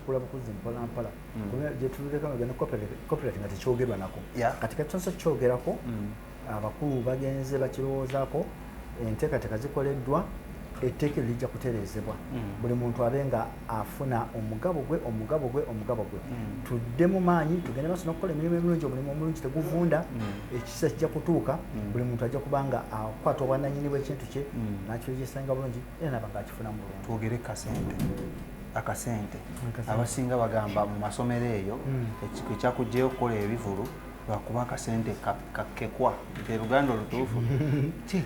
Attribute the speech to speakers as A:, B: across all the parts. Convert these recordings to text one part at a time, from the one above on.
A: kula bukuzi mpola mpola mm. kubera jetuleka magana copyright copyright ngati kyogerwa nako yeah. kati katonso kyogerako mm. abakulu bagenze bakirowoozako enteekateeka zikoleddwa etteeka lijja kutereezebwa mm. buli muntu abe nga afuna omugabo gwe omugabo gwe omugabo gwe mm. tudde mu maanyi tugende maso nokukola emirimu emirungi omulimu omulungi teguvunda mm. ekisa kijja kutuuka buli muntu ajja kuba nga akwata obwananyini bwekintu kye nakirejesanga bulungi era nabanga akifuna mulungi twogere kasente
B: akasente abasinga bagamba mu masomero eyo hmm. ekyakugyeyo okukola ebivulu lwakuba akasente kakekwa nti oluganda olutuufu ki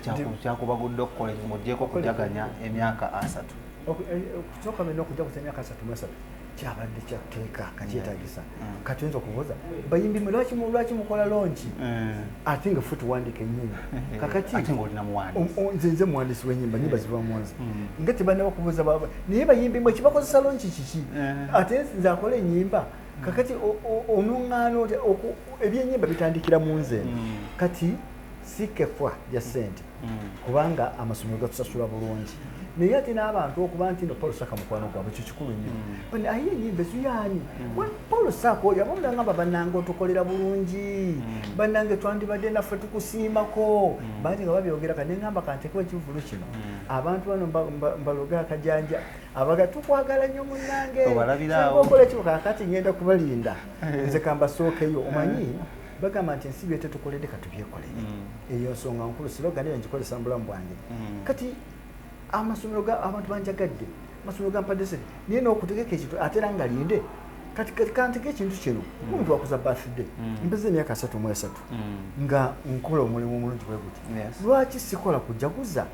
B: kyakubagudde okukola ekyo ngaogyeko okujaganya emyaka asatu eh, eh, okukyoka
A: mena okujaganya emyaka asatu mwesatu kyabadde kyatteeka kakyetagisa kati nzo kubuza bayimbi mulwaki mulwaki mukola longi eh. i think foot wandike nyimba eh, kakati ati ngoli na mwani um,
B: um, nze nze mwani siwe nyimba
A: nyimba eh. ziva mwanzi mm. ngati bana bakubuza baba niye bayimbi mwe kibako sa longi chichi ati nze akola nyimba mm. kakati onungano oku ebye nyimba bitandikira munze mm. kati sikefwa ya sente kubanga amasomero gatusasula bulungi naye ate n'abantu okuba nti no paul saka mukwano gwabwe ekyo kikulu nnyo mm. aye enyimba ezuyaani mm. paul saka oyo aba mulangamba bannange otukolera bulungi mm. bannange twandibadde naffe tukusiimako bangi nga babyogera ka neŋamba kantekewo ekivulu kino abantu bano mbaloge akajanja abaga tukwagala nnyo munnange okola kiko kakati ngenda kubalinda eh. nze kambasookeyo omanyi eh. bagamba nti ensi byete tukoledde katubyekolere mm. eyo nsonga nkulu siroga naye ngikozesa mu bulamu bwange mm. kati amasomero ga abantu banjagadde amasomero ga mpadese naye n'okutegeka ekintu atera nga linde kati kanteka ekintu kino mm. omuntu wakuza birthday mpeza emyaka asatu mu esatu nga nkola omulimu omulungi bwe guti lwaki sikola kujaguza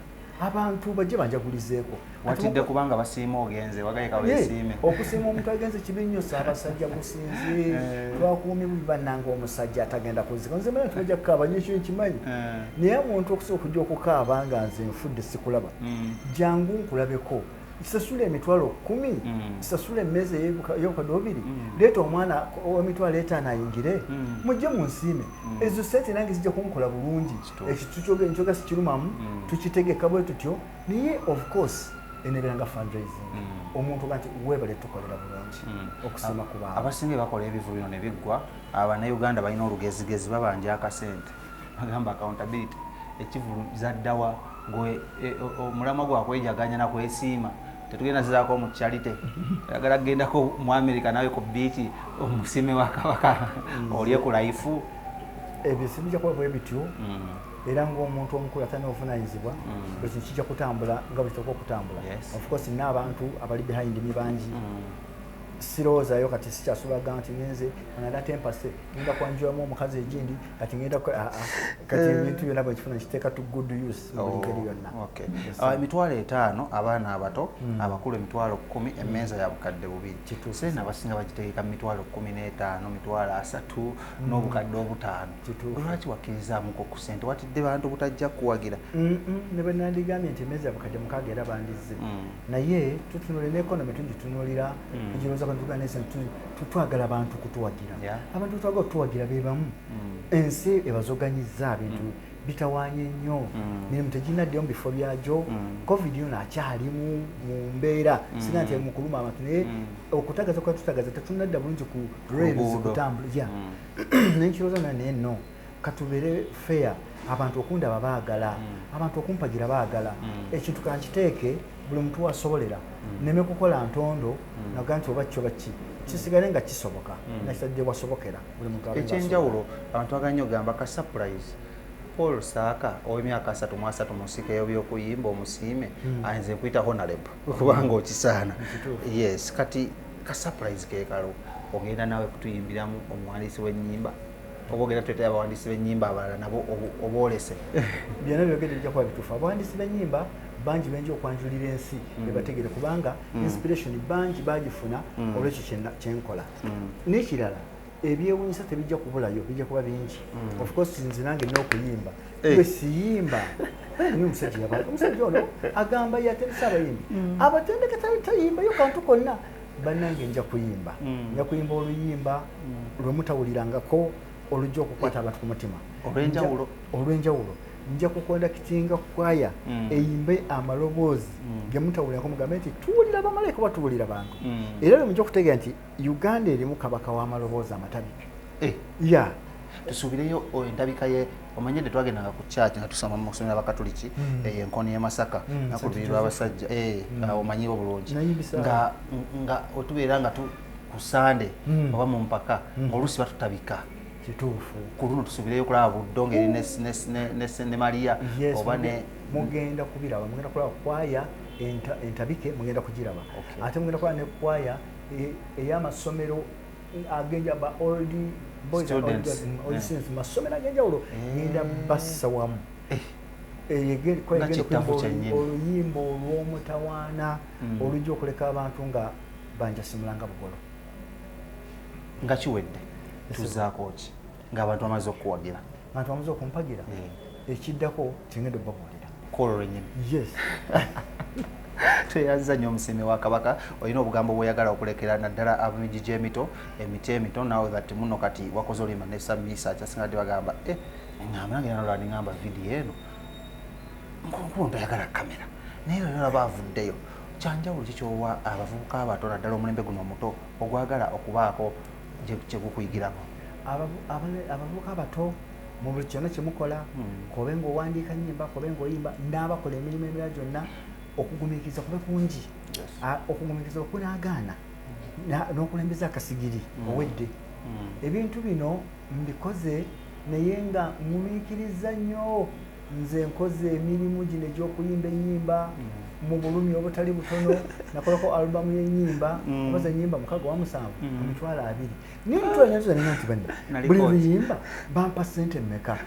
A: abantu bajje banjagulizeeko watidde kubanga
B: basiima ogenze wagaye kawesiime okusiima omuntu agenze
A: kibi nnyo saabasajja gusinze eh. lwakuumi bubi bannanga omusajja atagenda kuzika nze manya tibajja kukaaba nyo ekyo nkimanyi eh. naye omuntu okusobola okujja okukaaba nga nze nfudde sikulaba mm. jangu nkulabeko sasula emitwalo kumi mm. sasula emmeeza eyobukadde obubiri mm. leeta omwana omitwalo etaano ayingire mujje munsiime ezo sente nange zijja kunkola bulungi ekitukyogera sikirumamu mm. tukitegeka bwe tutyo naye of course enebeera nga fundraising mm. omuntu gati webale tukolera bulungi mm. okusima ku bantu abasinga bakola ebivu bino
B: ne biggwa abanauganda balina olugezigezi babanja akasente bagamba accountability ekivulu zaddawa e, omulamwa gwakwejaganya nakwesiima tetugenda zizako mu charity oyagala kugendako mu america nawe ku biiki omusime wa kabaka mm. olye ku laifu ebyo
A: sibija kuba bwe bityo mm. era ngaomuntu omukulu atana obuvunanyizibwa mm. ekyo kijja kutambula nga bwekitoka okutambula ofcourse nina abantu abali behind mi bangi sirowoozayo kati sikyasulaga nti ngenze anada tempase ngenda kwanjulamu omukazi egindi kati ngenda ah, ah. kati eh. ebintu byona bwekifuna kiteeka to good use Oh, ah, emitwalo etaano
B: abaana abato hmm. abakulu emitwalo kumi emenza ya bukadde bubiri sente abasinga bagitegeka mumitwalo kumi n'etaano mitwalo asatu hmm. n'obukadde obutaano lwaki wakkirizamuko ku sente watidde bantu butajja kuwagira ne bwe
A: nandigambye nti emenza ya bukadde mukaaga era bandizze hmm. naye tutunule neekonomi tugitunulira egirowooza bantu tugana ensi twagala abantu kutuwagira abantu twagala okutuwagira be bamu ensi ebazoganyiza bintu bitawanye nnyo mm. mirimu tegirina ddeyo mu bifo byagyo mm. covid yono akyali mu mbeera mm. singa nti mukuluma abantu naye okutagaza kwa tutagaza tetunadda bulungi ku rails kutambula ya naye nkirooza na naye no katubeere fair abantu okundaba baagala abantu okumpagira baagala ekintu kankiteeke buli muntu wasobolera neme kukola ntondo naga nti oba kyo bakki kisigale nga kisoboka nakitadde wasobokera Ekyenjawulo abantu
B: twagala nnyo okugamba ka surprise Paul Saaka ow'emyaka asatu mu asatu mu nsika y'ebyokuyimba omusiime hmm. ayinza nkuyita honalebo kubanga okisaana yes kati ka surprise kekalo ogenda naawe kutuyimbiramu omuwandiisi w'ennyimba oba ogenda tuletera abawandiisi b'ennyimba abalala nabo oboolese byonna
A: byogedde bijja kuba bituufu abawandiisi b'ennyimba bangi benja okwanjulira ensi mm. ebategere kubanga mm. inspiration bangi bagifuna mm. olwekyo kyenkola mm. nekirala ebyewunyisa tebijja kubulayo bijja kuba bingi mm. ofcourse nze nange nina okuyimba eh. we siyimba ni omusajja yaba omusajja ono agamba yatendesa abayimbi mm. abatendeke tayimbayo kantu konna banange nja kuyimba mm. nja kuyimba oluyimba lwemutawulirangako olujja okukwata abantu ku mutima olwenjawulo nja kukondakitinga kwaya mm. eyimbe amaloboozi mm. gemutawulirako mugambe nti tuwulira bamalayika oba tuwulira bantu mm. era lwemuja okutegeera nti uganda erimu kabaka w'amaloboozi amatabika eh. ya tusuubireyo
B: endabika ye omanye de twagendanga ku kyaki nga tusoma mu kusomera abakatuliki hmm. eh, enkono ye masaka hmm, nakulubiri lwabasajja eh, hmm. omanyiba obulungi nga otubeera nga ku sande oba mu mpaka ngaoluusi batutabika kituufu
A: ku luno tusubireyo
B: okulaba buddo ngeri ne sene maria oba ne mugenda kubiraba
A: mugenda kulaba kwaya entabike mugenda kugiraba ate mugenda kulaba ne kwaya e, eyamasomero agenja ba old boys mm, masomero agenjawulo eh. genda bassa wamu eh. oluyimba olw'omutawaana mm. olujja okuleka abantu nga banjasimulanga bugolo
B: nga kiwedde tuzaako ki ng'abantu bamaze okukuwagira abantu bamaze okumpagira
A: eh. ekiddako kyengenda obabuulira kwolwo lwenyini
B: yes
A: tweyanziza
B: nnyo omusiimi wa kabaka olina obugambo bwoyagala okulekera naddala abamiji gy'emito emiti emito naw that muno kati wakoze oluyimba nesamiisa kyasinga ti bagamba e eh, ngamba nange nalolani ngamba vidiyo eno nkunkulu ntayagala kamera naye lero olaba avuddeyo kyanjawulo kikyowa abavubuka abato naddala omulembe guno omuto ogwagala okubaako kye gukuyigirako.
A: Abavubuka abato mu buli kyonna kye mukola, hmm. kobe ng'owandiika nnyimba, kobe ng'oyimba, n'abakola emirimu emirala gyonna, okugumiikiriza kube kungi. Okugumiikiriza okunaagaana n'okulembeza akasigiri hmm. owedde. Hmm. Ebintu bino Mbikoze naye nga ngumiikirizza nnyo. Nze nkoze emirimu gino egy'okuyimba ennyimba mu bulumi obutali butono. Nakolako alubamu y'ennyimba obaza ennyimba mukaga wa musanvu ku mitwalo abiri. Naye ntwanyatuza nina nti banna buli luyimba bampa ssente mmeka?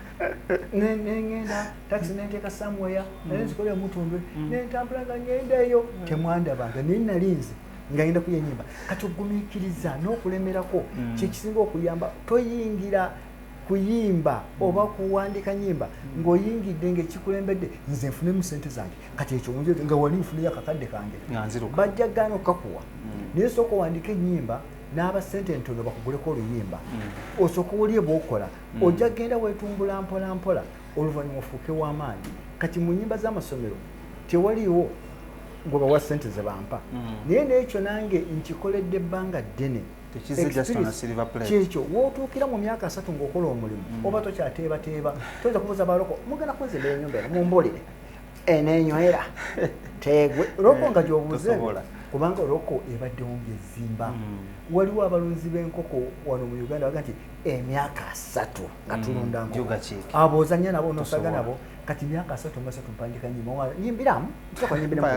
A: Nengenda takisi nenteeka samuweya naye nzikolera mutundwe nentambula nga ngenda eyo temwandabanga naye nali nze. ngagenda kuya enyimba kati ogumikiriza n'okulemerako mm. kyekisinga okuyamba toyingira kuyimba mm. oba kuwandika nyimba mm. ng'oyingidde ngaekikulembedde nze nfune mu sente zange kati ekyo nga wali nfuneyo akakadde kange bajja gaana okukakuwa naye sooka owandika enyimba n'aba sente entono bakuguleko oluyimba osooka owulye bwokola ojja genda wetumbula mpola mpola oluvannyuma ofuuke w'amaanyi kati mu nnyimba z'amasomero tewaliwo gwe bawa ssente ze bampa mm. naye n'ekyo nange nkikoledde ebbanga ddene kyekyo wotuukira mu myaka asatu ngaokola omulimu mm. oba tokyateebateeba toyinza kubuza baloko mugenda kunzimba enyumba eno mumbolere enenywera tegwe loko nga gyobuuze kubanga oloko ebaddewo ngaezimba mm. waliwo abalunzi b'enkoko wano mu uganda baga nti emyaka asatu nga mm, tulunda abo ozanya nabo nosaga nabo kati myaka asatu nga satu mpandika nyimba nyimbiramu nsaka nyimbiramu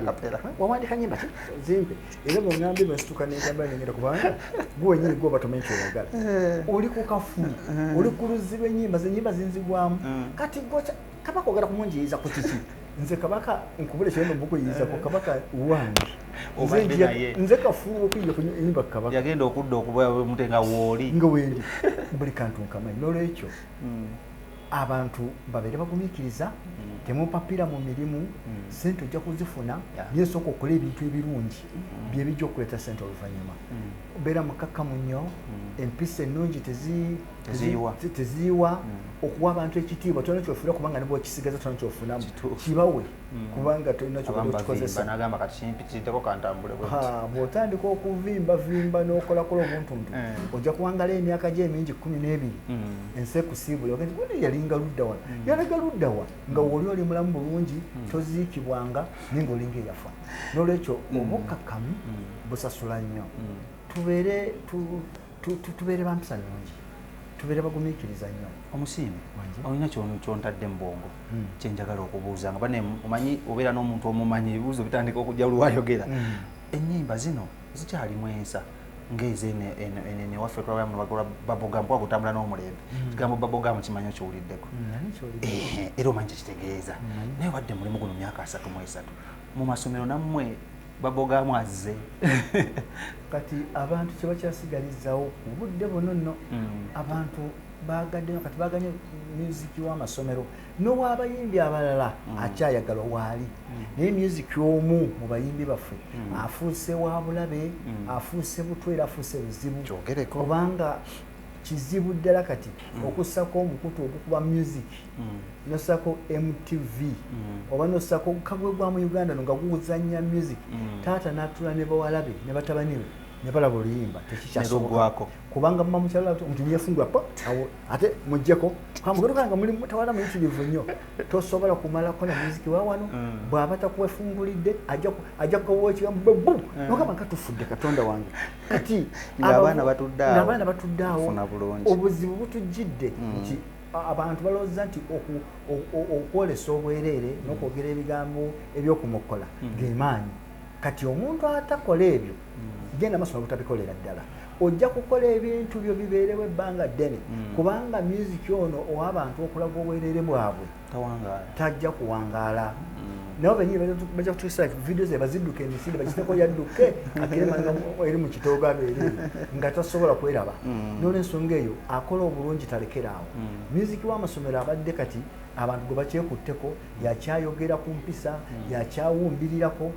A: wawandika nyimba ki zimpe era bwe ngambi bwe situka ne kamba ne ngera kubanga gwe nyiri gwe batome kyo yagala eh. oli ku kafu eh. oli ku luzibe nyimba ze nyimba zinzigwamu mm. kati gocha kaba kwogera kumunjiyiza ku kiki nze kabaka nkubule kyeno bukuyiyiza ku kabaka wange nze kafuuwa okuyija kunyumba kabaka yagenda okudda okubamute
B: nga wooli nga wendi
A: buli kantu nkamanyi nolwekyo hmm. abantu babeere bagumikiriza hmm. temupapira mu mirimu hmm. sente ojja kuzifuna naye sooka okola ebintu ebirungi byebijja okuleeta sente oluvannyuma beera mukakkamu nnyo empisa ennungi teziyiwa hmm. okuwa abantu ekitiibwa tolina kyofuna kubanga nibwe okisigaza tolina kyofunamu kibawe hmm. kubanga tolina kyokikozesaobwotandika okuvimbavimba nokolakola obuntuntu hmm. ojja kuwangala emyaka gyo emingi kumi n'ebiri ensi ekusiibula ogenti gundi yalinga luddawa yalaga luddawa nga woli oli mulamu bulungi toziikibwanga naye nga olinga eyafa nolwekyo obukkakkamu busasula nnyo tubeere tubeere bampisa nungi tubeere bagumiikiriza nnyo omusiimi
B: olina kyontadde mu bwongo hmm. kyenjagala okubuuza nga bane omanyi obeera n'omuntu omumanyi ebibuuzo bitandika okujja luwayogera hmm. ennyimba zino zikyalimu ensa ngeze ene waffe twabala mu bagora baboga mpo agutambula n'omulembe mm. kigambo baboga mu kimanyo kiwuliddeko mm, eh, era omanyi kyekitegeeza mm. naye wadde mulimu guno myaka asatu mu esatu mu masomero nammwe babogamu azze
A: kati abantu kyebakyasigalizzawo ku budde buno nno mm. abantu bagaddeyo kati baganye musiki w'amasomero n'owabayimbi abalala mm. akyayagalwa waali mm. naye musiki omu mu bayimbi baffe afuuse wa bulabe afuuse butwa era afuuse buzibu kubanga kizibu ddala kati okussako omukutu ogukuba musiki mm. nosako mtv mm. oba nosako kagwe gwa mu uganda nga guzanya music mm. taata natula ne bawalabe ne batabani be ne balaba oluyimba tekikyasogwako
B: kubanga muma mukyalala
A: ti omuntu yefungula pa awo ate mujjeko kamugerukanga muli mutawala muyitirivu nnyo tosobola kumalako na muziki wawano mm. bwaba takuwefungulidde ajja kukawokiwa mube bu mm. nogamba nga tufudde katonda wange kati
B: abaana batudde
A: awo obuzibu butujjidde mm. nti Abantu balowooza nti okwolesa obwereere hmm. n'okwogera ebigambo eby'okumokkola hmm. ge maanyi. Kati omuntu atakola ebyo hmm. genda masoma butabikolera ddala ojja kukola ebintu byo bibeerewo ebbanga ddene kubanga myuziki ono owabantu okulaga obwereere bwabwe tajja kuwangaala. nabo benyini bajja kutusa video ze baziduke emisinde bakiteko yadduke akiremanga eri mu kitoogo abeere nga tasobola kweraba mm. n'olwensonga eyo akola obulungi talekera awo mm. muziki w'amasomero abadde kati abantu gwe bakyekutteko mm. yakyayogera ku mpisa yakyawumbirirako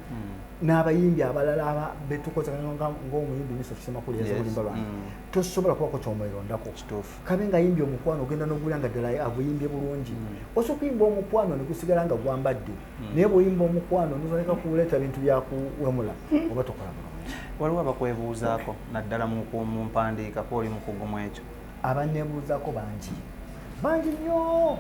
A: n'abayimbi abalala aba betukozanga ng'omuyimbi miso kisemakulu yazobulimba lwange tosobola kubako kyomwerondako kabe nga yimbye omukwano ogenda nogula nga ddala aguyimbye bulungi mm. osa okuyimba omukwano negusigala nga gwambadde mm. naye bwoyimba omukwano nozaleka kuleeta bintu byakuwemula mm. oba tokola bulungi waliwo abakwebuuzaako
B: naddala mu mpandiika kwoli mukugu mu ekyo abanebuuzaako
A: bangi bangi nnyo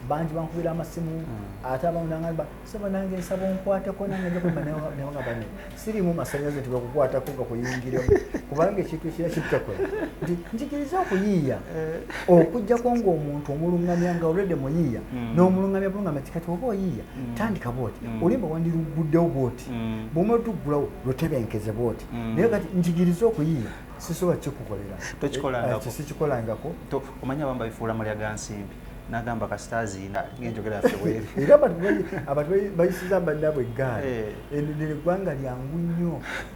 A: bangi bankubira amasimu ate abamu nangamba sebo nange nsaba onkwateko nange njakuba nawe nga bane sirimu masanyaze nti bakukwatako nga kuyingira kubanga ekintu ekira kitakola nti njigiriza okuyiiya eh. okujjako ngaomuntu omulungamya nga olwedde muyiiya hmm. n'omulungamya bulungamya kikati oba oyiiya hmm. tandika bwoti hmm. olimba wandiruguddewo bwoti bwomalutuggulawo lutebenkeze bwoti naye kati njigiriza okuyiiya sisobola kikukolera eh, eh, sikikolangako omanya
B: bamba bifuula mulya gansimbi nagamba kasita aziina ngenjogera yaffe bweri era
A: abantu bayisiza bannabwe eggaali eh. enenera eggwanga lyangu nnyo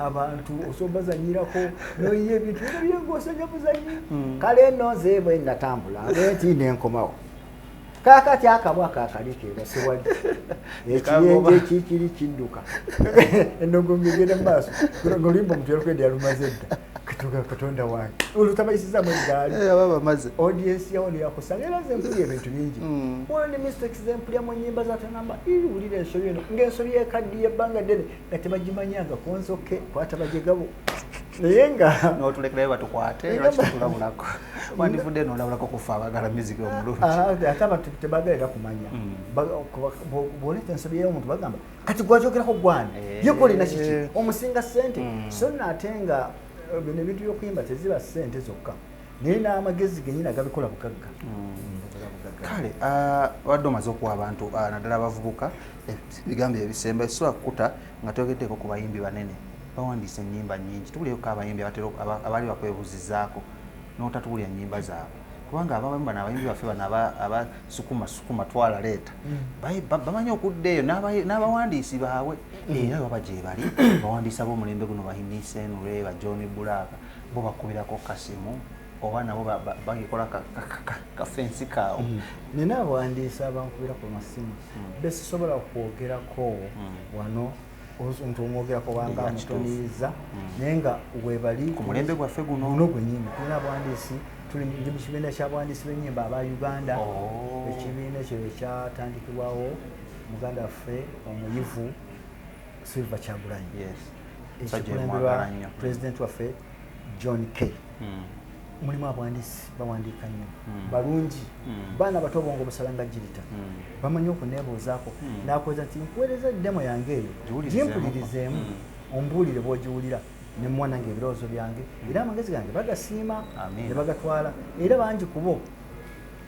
A: abantu osombazanyirako noyiye ebintu ebyo byengaosanya buzanyi hmm. kale eno nze bwe natambula bwenti nenkomawo kakati akabwa kakalekeera sewali ekiyenje kikiri kidduka enogo ngegenda mumaaso nolimba omuntu yalukedi yalumaze edda katuga katonda wange olutabayisiza mu egaali eh, aba bamaze audience
B: yawo ne
A: yakusanga era nze mpulya ebintu bingi hmm. one the mistakes ze mpulya mu nyimba za tanamba iri wulira ensobi eno ng'ensobi y'ekaddi y'ebbanga ddene nga tebagimanyanga ku nzoke kwata bajegabo naye nga notulekerayo batukwate
B: lwaki tutulabulako wandivudde nolabulako kufa abagala miziki omulungi ah, ah, ate abantu
A: tebagala era kumanya hmm. bwoleta ensobi y'omuntu bagamba kati gwajogerako gwani eh. yekolina kiki eh. omusinga sente hmm. so nate nga eh, bino ebintu byokuyimba teziba sente zokka naye n'amagezi genyini agabikola bugagga hmm.
B: kale ah, wadde omaze okuwa abantu ah, naddala abavubuka ebigambo ebisemba ekisobola kukuta nga tyogeddeko ku bayimbi banene bawandiisa ennyimba nyingi tubulyeko abayimbi abaali bakwebuzizaako n'otatuwulira nnyimba zaabwe kubanga abamu bano abayimbi baffe bano abasukuma sukuma twala leeta mm. bamanyi okudda eyo n'abawandiisi baabwe mm. era baba gyebali bawandiisa b'omulembe guno bahimisenure ba john bulaaka bo bakubirako kasimu oba nabo bagikola kafensi kaawo mm. naye n'abawandiisi
A: abankubira ku masimu besisobola kwogerako wano nti omwogera kubanga amutoniyizza mm. naye nga webali ku mulembe gwaffe guno
B: guno gwenyini tulina abwandiisi
A: tuli ndi mu kibiina kya bwandiisi b'ennyimba aba uganda oh. ekibiina ekyo ekyatandikibwawo muganda waffe omuyivu silver kyagulanyi ekikulemberwa pulezidenti waffe john k mm. mulimu abwandiisi bawandiika nnyo mm. balungi mm. baana bato obwongo busala nga jirita mm. bamanyi okuneebuuzaako mm. nakuweza nti nkuweereza demo yange eyo gimpulirizeemu mm. ombuulire bwogiwulira nemuwa nange ebirowoozo byange era amagezi gange bagasiima ne bagatwala era bangi kubo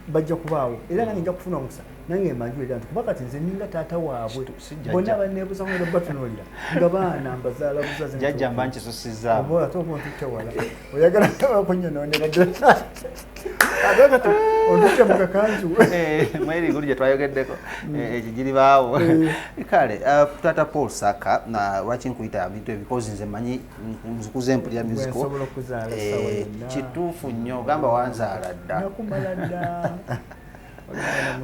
A: bajja kubaawo era nange nja kufuna omukisa nange mbanjula era nti kuba kati nze ninga taata waabwe bonna baneebuza nga batunuulira nga baana mbazaala buzazijajja mba nkisusizaabo
B: ate oba ontutte
A: wala oyagala kunyonoonera ddala ate kati ontutte mu kakanzu eh, mweri guli
B: gye twayogeddeko mm. eh, ekyo giri baawo eh. kale uh, taata paul saka lwaki nkuyita bintu ebikozi nze manyi nkuze mpulira eh, kituufu nnyo ogamba wanzaala dda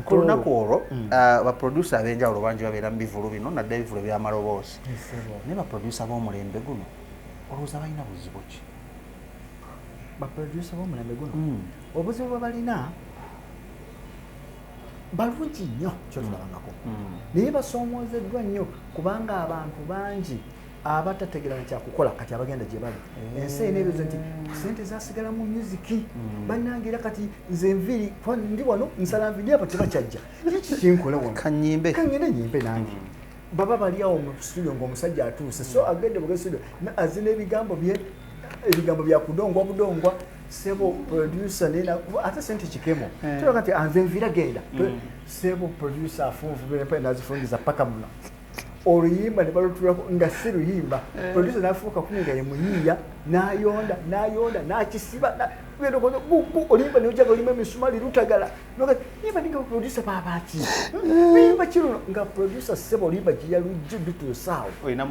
B: ku lunaku olwo mm. ah, baprodusa ab'enjawulo bangi babeera mu bivulu bino nadde ebivulu ebyamaloboozi naye baprodusa b'omulembe guno olowooza balina buzibu ki
A: baprodusa b'omulembe guno mm. obuzibu bwe balina balungi nnyo kyotulabangako mm. naye basoomoozeddwa nnyo kubanga abantu bangi abatategera na kyakukola kati abagenda gye bali mm. ensi erina ebibuzo nti sente zasigala mu musiki mm. bannange era kati nze nviiri ndi wano nsala nviiri abo tebakyajja kiki kinkola wano kanyimbe kanyende nyimbe nange mm. baba bali awo mu studio ng'omusajja atuuse so agende buge studio azina ebigambo bye ebigambo bya kudongwa budongwa sebo producer nena ate sente kikemo eh. tulaga nti anze nviira genda sebo producer afunvubira pale nazifungiza paka muno oluyimba ne balutulako nga si luyimba eh. producer nafuuka kumi nga ye muyiiya nayonda nayonda nakisiba olimba nojaba olima emisumali lutagala imba ninga producer babaki imba kiruno nga producer sebo olimba giyalujju dutusawo olina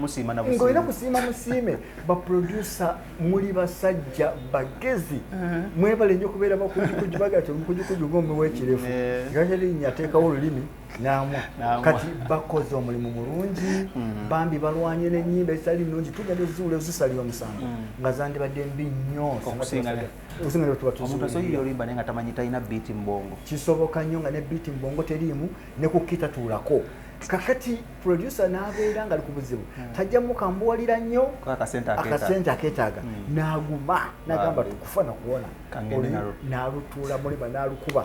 A: kusiima musiime baproducer muli basajja bagezi eh. mwebale nyo kubeera bakujukujubagatomukujukujunga omuwekirefu eh. gajalinya ateekawo olulimi namwa kati bakoze omulimu mulungi mm. bambi balwanye nenyimba ezitali nungi tugenda ezuula ezisalira omusango mm. nga zandibadde mbi
B: nnyo kisoboka nnyo nga ne
A: biiti mubongo teriimu ne kukita tuulako kakati producer nabeera nga likubuzibu hmm. tajja mukambuwalira nnyo akasente aketaaga hmm. naguma nagamba tukufa nakuwona nalutuula muliba nalukuba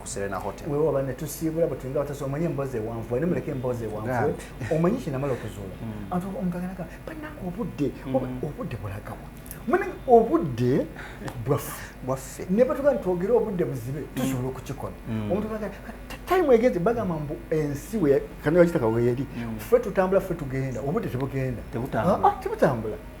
B: ku Serena Hotel. Wewe wabane tusiibula
A: bwe tuyinga batasa omanyi emboozi ewanvu wali muleke emboozi ewanvu omanyi kye namala okuzuula mm. antu omuntu agenda kaba bannange obudde mm. obudde bulagawa mune obudde bwaffe bwaffe ne batuga nti twogere obudde buzibe mm. tusobola okukikola omuntu aga time egeze bagamba mbu ensi we kano yakitaka weeri ffe tutambula ffe tugenda obudde tebugenda tebutambula ah, ah,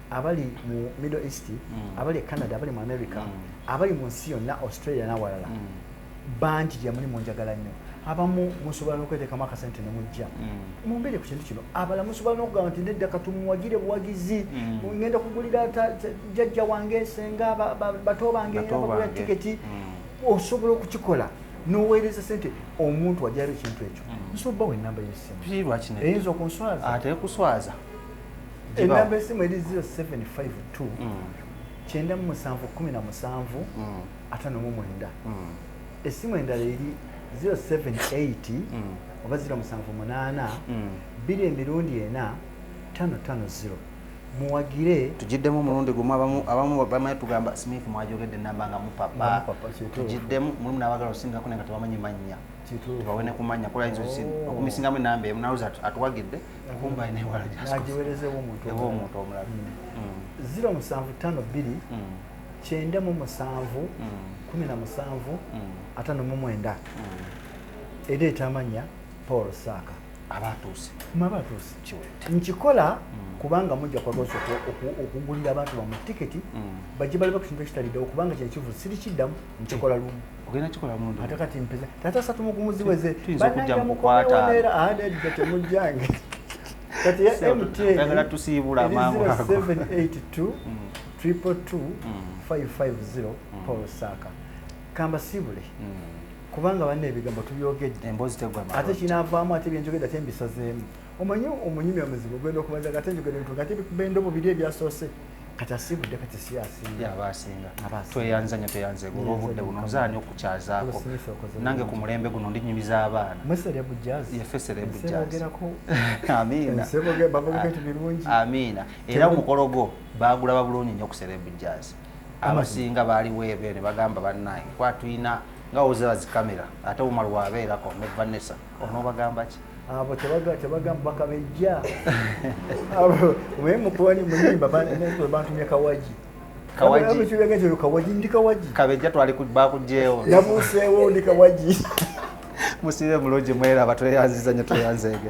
A: abali mu middle east mm. abali e canada abali mu america mm. abali mu nsi yonna australia nawalala mm. bangi gyemuli munjagala nnyo abamu musobola nokwetekamu akasente nemujja mm. mumbere ku kintu kino abala musobola nokugamba nti nedda katumuwagire buwagizi mm. ngenda kugulira jajja wange senga bato bange bagula tiketi mm. osobola okukikola noweereza sente omuntu wajaba ekintu ekyo nsobola bawa enamba yesimu eyinza okunswaza atekuswaza enamba esimu eri 0752 kyenda mu musanvu kumi na musanvu mm. atano mu mwenda mm. esimu endala eri 078 mm. oba 0 musanvu munaana biri emirundi ena tano tano ziro muwagire tugiddemu omulundi
B: gumu abamu bamanyi tugamba smith mwajogedde enamba nga mupapa tugiddemu mulimu nabagala osingako naye nga tebamanyi mannya tubawe ne kumanya kulayinza oh. okumisingamu enamba emu nawoza atuwagidde nagiwerezeewo omuntu
A: omulala
B: ziro musanvu tano
A: bbiri kyenda mu musanvu kumi na musanvu atano mu mwenda ereeta amannya paul saaka abatuuse
B: mabatuuse nkikola
A: mm. kubanga mujja kwagosa okugulira abantu bamwe tiketi mm. bajje baliba ku kintu ekitali ddawo kubanga kino kivuzi sirikiddamu nkikola lumu ogenda kikola mundu
B: ate kati mpeza tata
A: satu mugumuzi weze banajja mukwata
B: era ade de temujjange
A: kati ya MT yagala tusibula
B: mangu 782
A: triple 2 550 Paul Saka kamba sibule mm. kubanga banne ebigambo tubyogedde emboozi tegwa ate kinavaamu ate byenjogedde
B: ate
A: mbisazeemu omanyi omunyumya muzibu ogenda okubanza gate njogedde ntu gate bikubenda obubiri ebyasoose kati asiibudde kati si asinga aba asinga
B: tweyanza nyo tweyanze gula obudde buno nzaani okukyazaako nange ku mulembe guno ndi nyumiza abaana amiina era omukolo gwo baagulaba bulungi nyo ku serebu jazz abasinga baali weebe ne bagamba bannaye kwatuyina nga ozira zikamera ate omar wabeerako ne vanessa onobagamba ki abo tebagamba
A: bakabejja abo mwe mukuwani muyimba
B: bantumye kawagi musibe
A: mulungi
B: mweraba tweyanziza nyo
A: tweyanzeege